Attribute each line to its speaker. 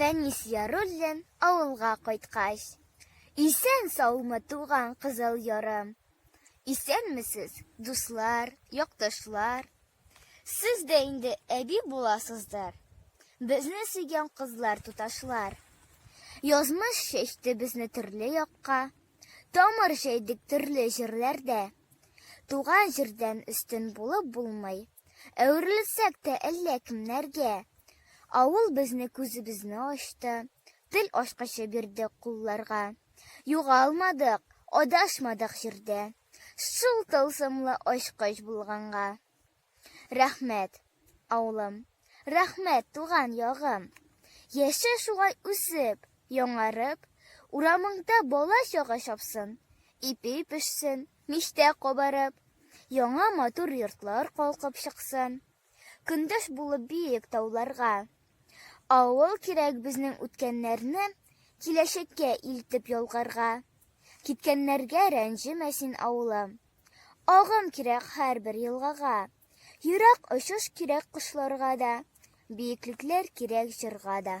Speaker 1: Фәнис Яруллин авылга кайткач. Исән саумы туган кызыл ярым. Исәнмесез, дуслар, якташлар. Сез дә инде әби буласыздыр. Безне сөйгән кызлар туташлар. Язмыш чәчте безне төрле якка. Тамыр җәйдек төрле җирләрдә. Туган җирдән өстен булып булмый. Әверелсәк тә әллә кемнәргә. Авыл безне күзебезне ачты. Тел ачкычы бирде кулларга. Югалмадык, адашмадык җирдә. Шул тылсымлы ачкыч булганга. Рәхмәт, авылым, рәхмәт, туган ягым! Яшә шулай үсеп, яңарып, Урамыңда бала-чага чапсын, Ипи пешсен, мичтә кабарып, Яңа матур йортлар калкып чыксын. Көндәш булып биек тауларга. Авыл кирәк безнең үткәннәрне Киләчәккә илтеп ялгарга. Киткәннәргә рәнҗемә син, авылым. Агым кирәк һәрбер елгага, Ерак очыш кирәк кошларга да, Биеклекләр кирәк җырга да.